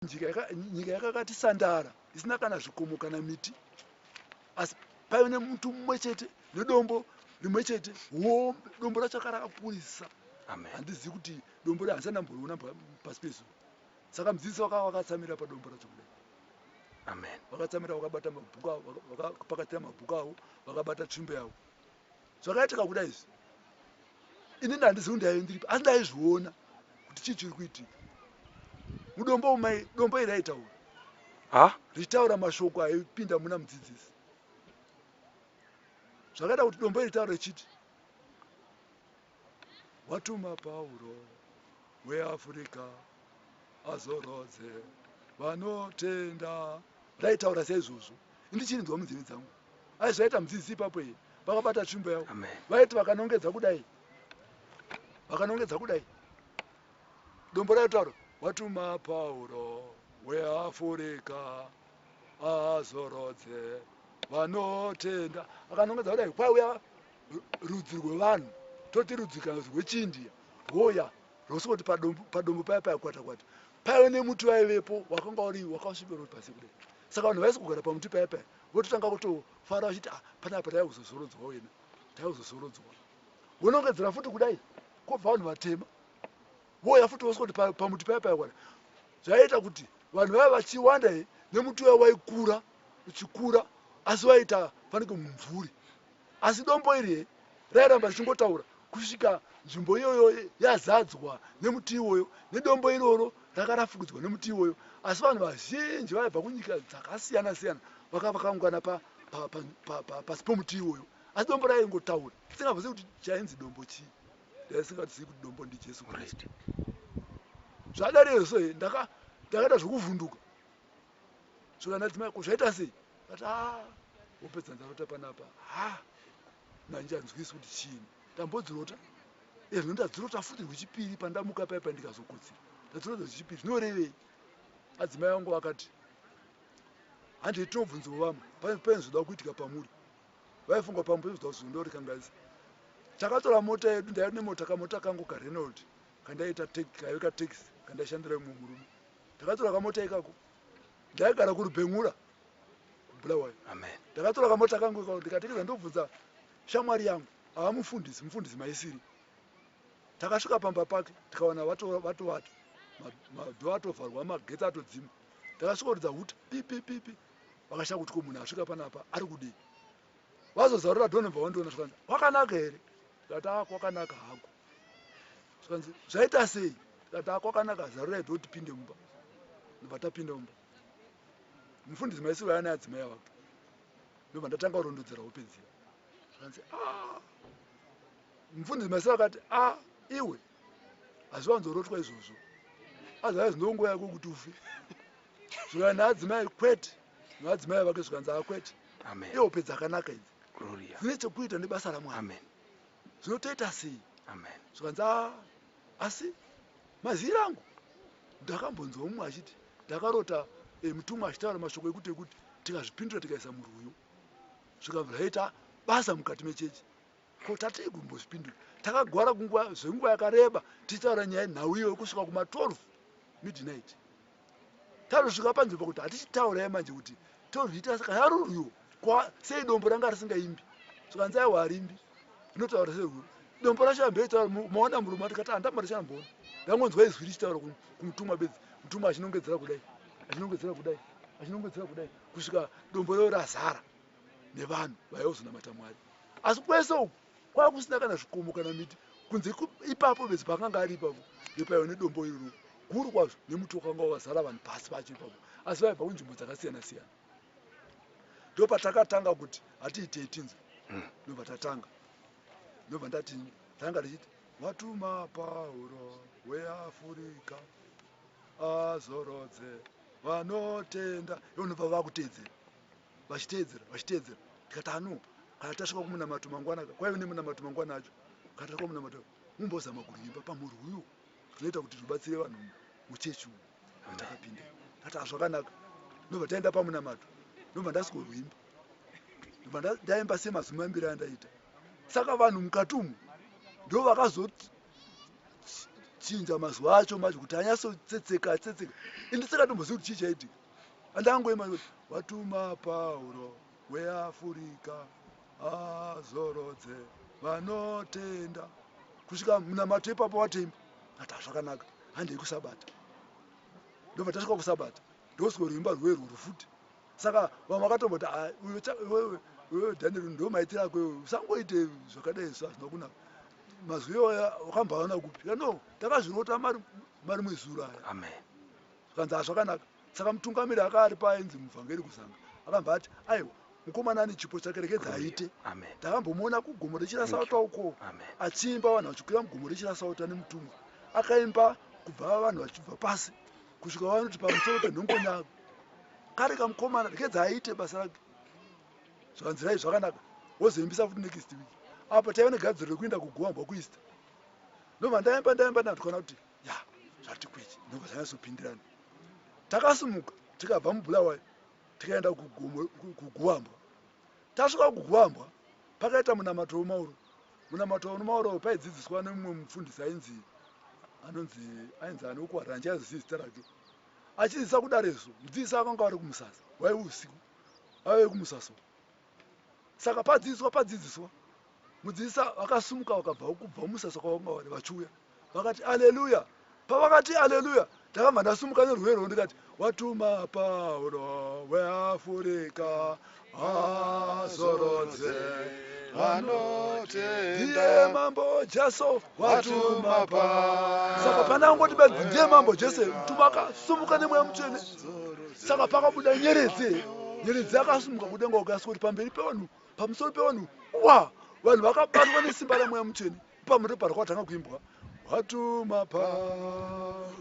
nyika yakakati sandara isina kana zvikomo kana miti asi paive nemuti mumwe chete nedombo rimwe chete hombe dombo racho akarakakurisa handizivi kuti dombo ra handisana mboriona pasi pezuva saka mudzidzisi wakava wakatsamira padombo racho kudai amen vakatsamira vakabata mabhuku avo vakapakatira mabhuku avo vakabata tsvimbo yavo Zvakaitika kuda izvi ini ndandizivi ndaive ndiripi asi ndaizviona kuti chii chiri kuitika mudombo umai dombo iri aitaura ha ritaura mashoko aipinda muna mudzidzisi zvakaita kuti dombo iri taura richiti watuma Pauro weAfrica azorodze vanotenda. Ndaitaura saizvozvo ndichinzwa munzeve dzangu. Ai zvaita mudzidzisi ipapo here vakabata tsvimbo yavo vaiti vakanongedza kudai vakanongedza kudai dombo raitaura watuma Pauro weAfrica azorodze vanotenda akanongedza kudai kwauya rudzi rwevanhu toti rudzi kana kuti rwechiindia rwoya rwosvoti padombo paya paya kwata kwata paive nemuti vaivepo wakanga uri wakasvipero pasi kudai saka vanhu vaisi kugara pamuti paya paya vototanga kutofara vachiti ah, panapa taive kuzozorodzwa wena taive kuzozorodzwa vonongedzera futi kudai kobva vanhu vatema voya futi vosvoti pamuti paya paya kwata zvaiita kuti vanhu vaive vachiwanda he nemuti uya waikura uchikura asi waiita fanike mumvuri Asi dombo iri rairamba richingotaura kusvika nzvimbo iyoyo yazadzwa nemuti iwoyo, nedombo iroro ranga rafukidzwa nemuti iwoyo. Asi vanhu vazhinji vaibva kunyika dzakasiyana-siyana vakanga vakaungana pa, pa, pa, pa, pa, pasi pomuti iwoyo. Asi dombo raingotaura, tisingafungidziri kuti chainzi dombo chii, raisingatizivi kuti dombo ndiJesu Kristu. Zvadariyo so, ndaka, ndakaita zvokuvhunduka. saka ndati mai kuzvaita sei ati ah wopedza ndarota panapa ha ndanjanzwisi kuti chii ndambodzirota ezvo ndadzirota futi rwechipiri pandamuka paipa ndikazokotsira ndadzirota rwechipiri zvinorevei adzimai vangu vakati handei tinobvunziwo vamwe pane zvoda kuitika pamuri vaifunga pamwe pane zvoda kuzondauri kangaisa takatora mota yedu ndaive nemota kamota kangu karenold kandaiita kaive kataxi kandaishandira imwe murume ndakatora kamota ikako ndaigara kurubhen'ura kubulawayo ndakatora kamota kangu ikako ndikatekeza ndobvunza shamwari yangu ava mufundisi mufundisi maisiri takasvika pamba pake tikawana vatovata madhoo atovharwa magetsi atodzima takasvika kutidza huti pipipipi vakashaya kuti ko munhu asvika panapa ari kudii vazozarura dhonobva wandiona zvikanzi kwakanaka here ndikati a ah, kwakanaka hako zvikanzi zvaita sei ndikati a ah, kwakanaka zarurai dho tipinde mumba ndobva tapinda mumba mufundisi maisiro yana adzimai avake ndobva ndatanga kurondedzera hope dziya zvikanzi a ah. mufundisi maisiro akati a iwe hazviwanzorotwa izvozvo otherwise ndonguva yako kuti ufe zvikaa naadzimai kwete naadzimai vake zvikanzi akwete ihope dzakanaka idzi dzine chekuita nebasa ramwari zvinotoita sei zvikanzi ah, asi mazii rangu ndakambonzwa mumwe achiti ndakarota eh, mutumwa achitaura mashoko ekuti ekuti tikazvipindura tikaisa murwuyo zvikabva zvaita basa mukati mechechi Ko tatei kumbozvipindura takagwara kunguva zvenguva yakareba tichitaura nyaya yenhau iyoyo kusvika kuma 12 midnight tazosvika panzvimbo kuti hatichitaura yemanje kuti tozviitira saka yarurwiwo kwa sei dombo ranga risingaimbi zvikanzi aiwa harimbi rinotaura serwuru dombo racho yambe itaura maona murume atikati andamba richamboona ndangonzwa izwi richitaura kumutumwa bedzi mutumwa achinongedzera kudai achinongedzera kudai achinongedzera kudai kusvika dombo reo razara nevanhu vaiva kuzonamata mwari asi kwese uku kwava kusina kana zvikomo kana miti kunze ipapo bedzi paakanga ari ipapo nepaiva nedombo iroro guru kwazvo nemuti wakanga wavazara vanhu pasi pacho ipapo asi vaibva kunzvimbo dzakasiyana siyana ndo patakatanga kuti hatiitei tinzwe hmm. ndobva tatanga ndobva ndati tanga tichiti watuma pauro weafurika azorodze vanotenda ivo ndobva vakuteedzera vachiteedzera vachiteedzera tikati ano kana tasvika kumunamato mangwana kwaive nemunamato mangwana acho kana tasvika kumunamato mumbozama kurimba pamhuri uyu zvinoita kuti zvibatsire vanhu muchechi uyu atakapinda tati azvakanaka ndobva taenda pamunamato ndobva ndasikorwimba ndobva ndaimba semazumi mambiri andaita saka vanhu mukati umu ndo vakazoti chinja mazuva acho macho kuti anyasotsetseka tsetseka indisaka tombozivi kuti chii chaitika Andangoima kuti watuma Pauro weAfurika azorodze vanotenda kusvika munamato ipapo watemba ata zvakanaka handei kusabata ndobva tasvika kusabata ndosiko rwimba rwerwo rufuti saka vamwe vakatomboti wewe daniel ndo maiti rako iwe usangoite zvakadai so hazvina kunaka mazwi iwaya wakambaona kupi no takazvirota mari mwezuro aya amen zvikanzi hazvakanaka saka mutungamiri aka ari paainzi muvhangeri kuzanga akambva ati aiwa mukomana ane chipo chake rekedza aite ndakambomuona kugomo rechirasauta uko achiimba vanhu vachikwira mugomo rechirasauta nemutumwa akaimba kubva vanhu vachibva pasi kusvika vanoti pamusoro penhongonyako kari kamukomana rekedza aite basa rake zvakanzirai zvakanaka wozoimbisa futi next week apa taiva negadziro rekuinda kugoambwa kuista ndobva ndaimba ndaimba ndatwana kuti ya zvati kwechi ndobva zvanyatsopindirana takasumuka tikabva mubulawayo tikaenda kuguambwa tasvika kuguambwa pakaita munamato wemauro munamato wemauro paidzidziswa nemumwe mufundisi ainzi anonzi ainzi ane ukwara handichazivi zita rake achidzidzisa kudareso mudzidzisi akanga ari kumusasa waive usiku aive kumusasa saka padzidziswa padzidziswa mudzidzisa vakasumuka vakabva kubva umusasa kwavanga vari vachiuya vakati aleluya pavakati aleluya ndakanga ndasumuka nerwero ndikati watuma pauro weafurika azorodze vanotenda mambo jesu watumapa saka pana angoti benzi ndiye mambo jese mtumwa akasumuka nemweya mutsvene saka pakabuda nyeredzi nyeredzi akasumuka kudenga ukasi kuti pamberi pevanhu pamusoro pevanhu wa vanhu vakabatwa nesimba ramweya mutsvene pamuri parikatanga kuimbwa watumapa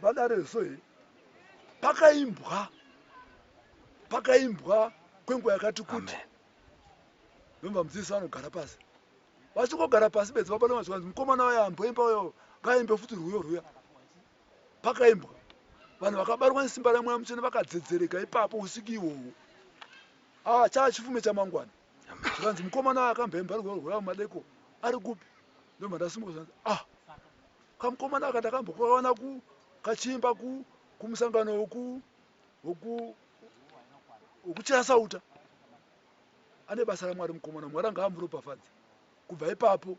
Vadare so here? Pakaimbwa. Pakaimbwa kwenguva yakati kuti. Vemva mudzidzisi vanogara pasi. Vachingogara pasi bedzi vapana vazvanzi mukomana waya amboimba uyo ngaimbe futi rwuyo rwuya. Pakaimbwa. Vanhu vakabarwa nesimba ramweya mutsvene vakadzedzereka ipapo usiki ihwohwo. Ah, chaa chifume chamangwana. zvikanzi mukomana wayo akamhemba rugwaro rwavo madeko ari kupi ndomandasimuka zvanzi ah kamukomana aka ndakambokawana ku kachimba ku kumusangano woku woku wokuchaya sauta ane basa ramwari mukomana mwari anga amuropafadza kubva ipapo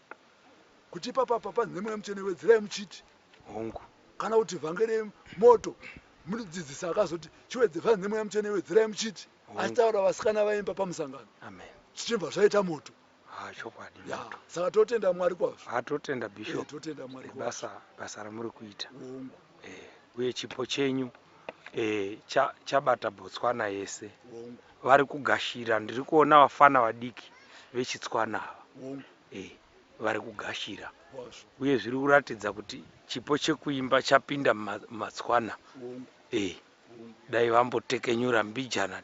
kuti ipapa papa ndine mweya mutsvene wedzerai muchiti hongu kana kuti vhange remoto munodzidzisa akazoti chiwedze vhange ndine mweya mutsvene wedzerai muchiti achitaura vasikana vaimba pamusangano zvichibva zvaita moto ah, chokwadi saka totenda mwari kwazvo ah, totenda bishop eh, totenda mwari basa basa ramuri kuita hongu eh, uye chipo chenyu eh, cha, chabata botswana yese vari kugashira ndiri kuona vafana vadiki vechitswana ava eh, vari kugashira uye zviri kuratidza kuti chipo chekuimba chapinda mumatswana eh, dai vambotekenyura mbijana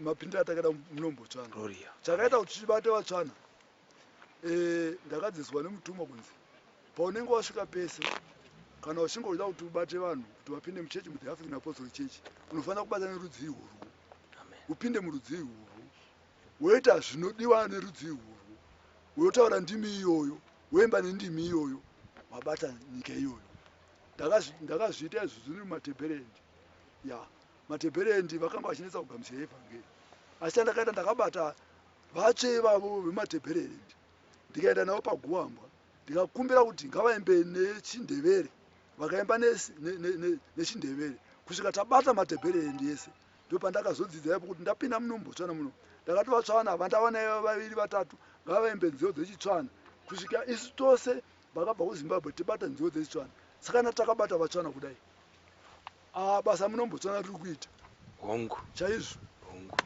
mapindira atakada munombotsvana chakaita kuti chibate vatsvana eh, ndakadziswa nemutumwa kunzi paunenge wasvika pese kana uchinge uchida kuti ubate vanhu kuti vapinde muchechi muthe african apostol church unofanira kubata nerudzii urwu upinde murudzii urwu woita zvinodiwa nerudzi irworwo, wotaura ndimi iyoyo, woimba nendimi iyoyo, wabata nyika iyoyo. Ndakazvi, ndakazviita izvo zviri mumatebherendi. Ya, matebherendi vakanga vachinetsa kugamuchira evhangeri. Asi chandakaita ndakabata vatsve ivavo vematebherendi, ndikaenda navo paguambwa, ndikakumbira kuti ngavaimbe nechiNdevere. Vakaimba nechindevere ne, ne, ne, kusvika tabata matebherendi ese ndopandakazodzidza ipo kuti ndapinda muno mbotsvana muno ndakatovatsvana vandavanayo vaviri vatatu ngavaimbe nziyo dzechitsvana kusvika isu tose vakabva kuzimbabwe tibata nziyo dzechitsvana sakana takabata vatsvana kudai ah, basa muno mbotsvana riri kuita hongu chaizvo hongu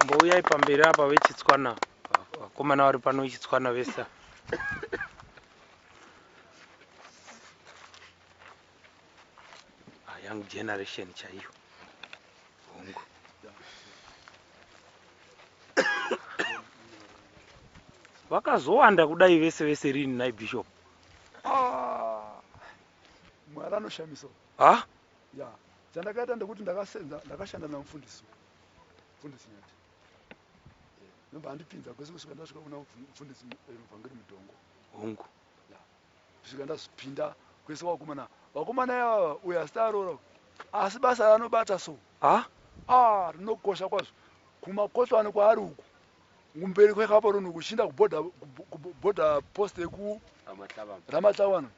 mbouyai pamberi apa vechitswana vakomana vari pano vechitswana vesa ah, young generation chaiyo hongu vakazowanda kudai vese vese rini nai bishop ah, mwari anoshamisa ah? ya chandakaita ndekuti ndakasenza ndakashanda namufundisi mufundisi nyati nobva andipinza kwese kusvika ndasvika kuna mufundisi muvhangeri mudhongo hongu kusvika ndazvipinda kwese kwakomana vakomana yavava uyo asita aroora asi basa ranobata so ha a rinokosha kwazvo kumakotwani kwaari uku kumberi kwekaporoni kuchinda kuborder post yekuramatlavano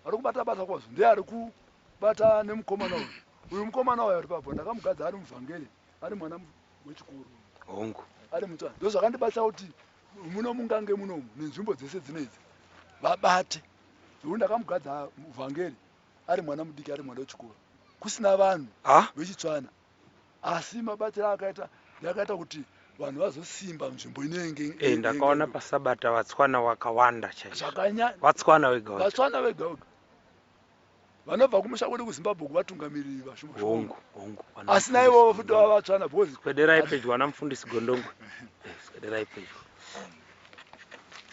ari kubata basa kwazvo ndiye ari kubata nemukomana uyu uyu mukomana uyu ari papo ndakamugadza ari muvhangeri ari mwana wechikuru hongu ari mutsvana ndozvakandibatsa kuti muno mungange munomu nenzvimbo dzese dzinedzi vabate zvekuti ndakamugadza vhangeri ari mwana mudiki ari mwana wechikoro kusina vanhu vechitsvana asi mabatiro akaita yakaita kuti vanhu vazosimba nzvimbo inenge eh, ndakaona pasabata vatswana wakawanda chaizvo vatswana vega vatswana vega vega vanobva kumusha kwedu kuzimbabwe kuvatungamiriri vashoma hongu hongu asi naivo vafuti vava vatsvana because swederai pedyo ana mufundisi gondongwe eh, swederai pedyo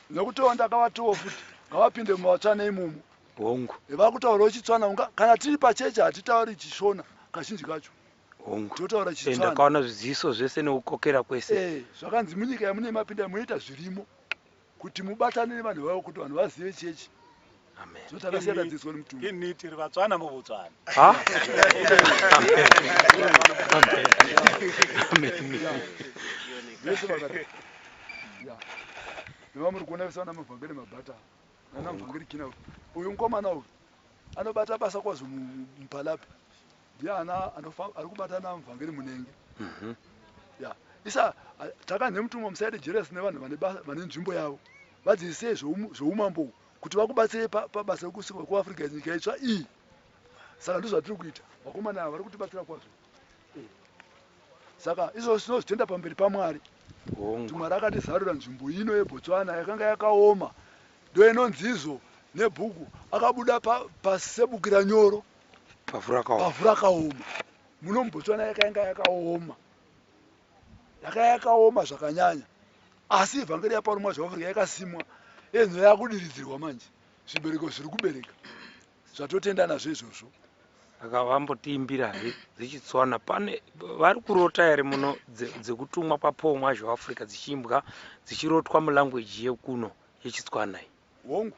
nekutowo ndakavatowo futi ngavapinde muvatsvana imomo hongu eh, vakutaura uchitsvana unga kana tiri pacheche hatitauri chishona kazhinji kacho hongu totaura eh, chitsvana ndakaona zviziso zvese nekukokera kwese zvakanzi munyika yamunei mapinda munoita zvirimo kuti mubatane nevanhu vavo kuti vanhu vazive chechi so takasiyana dzidziswa nemutumbi ini tiri vatswana muvutswana Ha? vese vakati Yeah. nevamuri kuona vese vana mavhangeri mabhata nana mavhangeri kina uyu mukomana uyu anobata basa kwazvo mu- mu- mupalapi ndiana anofamba ari kubatana muvhangeri munenge mhm. ya isa taka nemutumwa musaite jealous nevanhu vane basa vane nzvimbo yavo vadzidzisei zvoumambo kuti vakubatsirei pabasa rekusuka kuafrica nyika itsva iyi saka ndizvo zvatiri kuita vakomana ava vari kutibatsira kwazvo eh. saka izvozvo tinozvitenda pamberi pamwari kuti mwari akatizarura nzvimbo ino yebotswana yakanga yakaoma ndoinonzizvo nebhuku akabuda pasebukira nyoro pavhu rakaoma muno mubotswana yakainga yakaoma yaka yakaoma zvakanyanya asi evhangeri yaparumwa zveafrica yakasimwa enho yakudiridzirwa manje zvibereko zviri kubereka zvatotenda nazvo izvozvo aka vambotiimbira he dzechitswana pane vari kurota here muno dzekutumwa papomwa zveafrica dzichiimbwa dzichirotwa mulanguage yekuno yechitswana iyi hongu